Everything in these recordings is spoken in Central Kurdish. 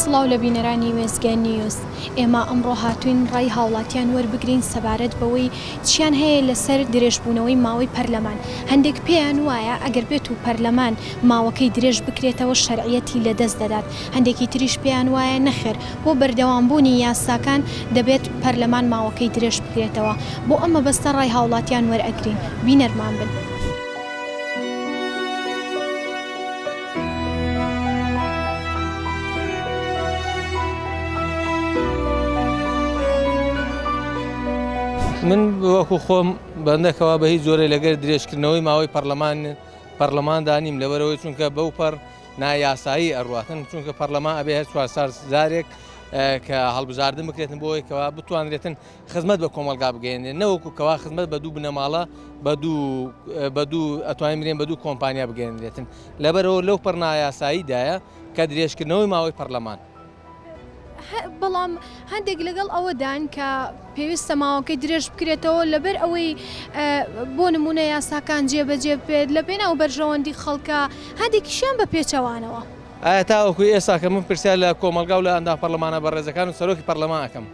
سڵاو لە بینەرانی وێستگە نیوز، ئێمە ئەمڕۆ هاتووین ڕای هاوڵاتیان وەربگرین سەبارەت بەوەی چیان هەیە لەسەر درێژبوونەوەی ماوەی پەرلەمان، هەندێک پێیان وایە ئەگەر بێت و پەرلەمان ماوەکەی درێژ بکرێتەوە شەرعیەتی لەدەست دەدات، هەندێکی تریش پێیان وایە نەخێر بۆ بەردەوامبوونی یاساکان دەبێت پەرلەمان ماوەکەی درێژ بکرێتەوە، بۆ ئەم مەبەستە ڕای هاوڵاتیان وەرئەگرین، بینەرمان بن. من وەکو خۆم بەندەکەوە بە هیچ جۆرێ لەگەر درێژکردنەوەی ماوەی پەرلەمان پەرلەماندا نیم لەبەرەوەی چونکە بەوپەڕ نا یاسایی ئەڕاتن چونکە پەرلەمان ئەبێ هەر چوار سال جارێک کە هەڵبژاردن بکرێتن بۆی کەوا بتوانرێتن خزمەت بە کۆمەلگا بگەێنێ نەوەکو کەوا خزمەت بە دوو بنەماڵە بە دوو ئەتوانین برێن بە دوو کۆمپانیا بگەێنرێتن لەبەرەوە لەو پڕنایاساییدایە کە درێژکردنەوەی ماوەی پەرلەمان. بەڵام هەندێک لەگەڵ ئەوەدان کە پێویستە ماوەکەی درێژ بکرێتەوە لەبەر ئەوەی بۆ نمونە یاساکان جێبەجێ بێت لە پێناو بەرژەوەندی خەڵکە هەندێکیشیان بە پێچەوانەوە. ئایا تاوەکو ئێستا کە من پرسیار لە کۆمەڵگا و لە ئەندام پەڕلەمانە بەڕێزەکان و سەرۆکی پەڕلەمان ئەکەم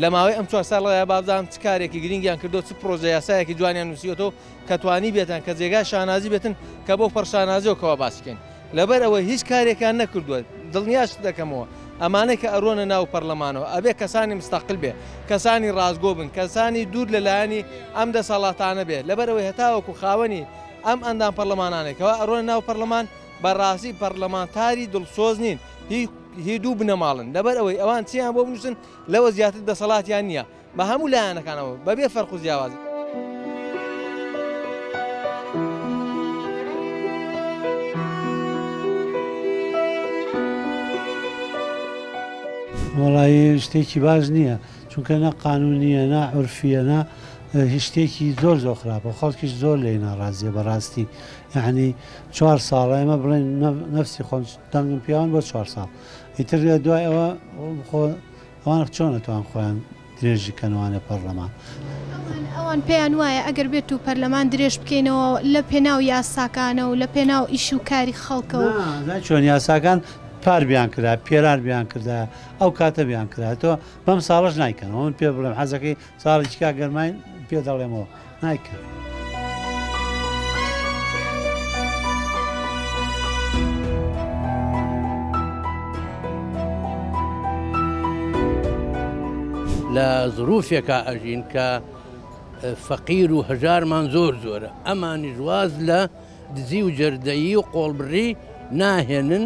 لە ماوەی ئەم چوار ساڵەدا با بزانم چ کارێکی گرینگیان کردووە چ پڕۆژە یاسایەکی جوانیان نووسیوەتەوە کە توانیبێتن کە جێگای شانازی بێتن کە بەو پەڕ شانازییەوە کەوا باسی کەین لەبەر ئەوەی هیچ کارێکیان نەکردووە، دڵنیاشت دەکەمەوە ئەمانەی کە ئەرۆنە ناو پەرلەمانەوە ئەبێ کەسانی مستقل بێ، کەسانی ڕاستگۆ بن، کەسانی دوور لە لایەنی ئەم دەسەڵاتانە بێ، لەبەر ئەوەی هەتاوەکو خاوەنی ئەم ئەندام پەرلەمانانەی کەوا ئەرۆنە ناو پەرلەمان بە ڕاستی پەرلەمانتاری دڵسۆز نین، هی هی دوو بنەماڵەن، لەبەر ئەوەی ئەوان چیان بۆ بنووسن لەوە زیاتر دەسەڵاتیان نییە، بە هەموو لایەنەکانەوە بە بێ فەرق و جیاواز. وەڵایی شتێکی باش نییە چونکە نە قانونیە نا عرفیە نا هشتێکی زۆر زۆر خراپە خەڵکیش زۆر لێ ناڕازیە بەڕاستی یعنی چوار ساڵە ئەمە بڵێن نفسی خۆم دەنگم پیاوان بۆ چوار ساڵ ئیتر دوای ئەوە خۆ ئەوان چۆن ئەتوان خۆیان درێژی کەنەوانە پەڕلەمان؟ ئەوان پێیان وایە ئەگەر بێتو پەرلەمان درێژ بکەینەوە لە پێناو یاساکانەو لە پێناو ئیشو کاری خەڵکەو. نا ئەزانی چۆن یاساکان پار بیان کرا پێران بیان کردایە ئەو کاتە بیان کرایە تۆ بەم ساڵەش نایکەنەوە من پێت بڵێم حەزەکەی ساڵی چ کاک گەرماین پێ دەڵێمەوە نایکەن. لە زروفێکا ئەژین کە فەقیر و هەژارمان زۆر زۆرە ئەمانیش واز لە دزی و جەردەیی و قۆڵبڕی ناهێنن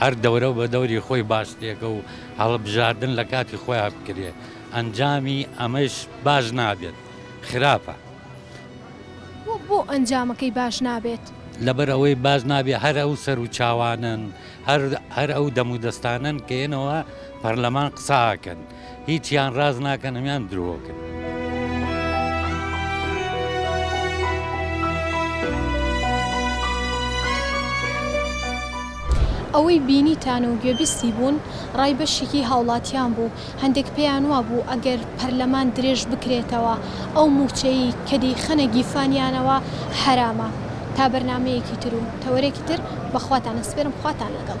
هەر دەورە بە دەوری خۆی باشترێکە و هەڵبژاردن لە کاتی خۆیا بکرێت، ئەنجامی ئەمەش باش نابێت، خراپە. بۆ بۆ ئەنجامەکەی باش نابێت؟ لەبەر ئەوەی باش نابێت هەر ئەو سەروچاوانەن، هەر هەر ئەو دەمودەستانەن کە یەنەوە پەرلەمان قسە ئەکەن. هیچیان ڕاست ناکەن هەمیان درۆکن. ئەوەی بینیتان و گوێبیستی بوون ڕای بەشیکی هاوڵاتیان بوو هەندێک پێیان وابوو ئەگەر پەرلەمان درێژ بکرێتەوە ئەو مووچەی کە دەیخەنە گیفانیانەوە حەرامە تا بەرنامەیەکی تر و تەوەرێکی تر بەخواتان ئەسپێرم خواتان لەگەڵ.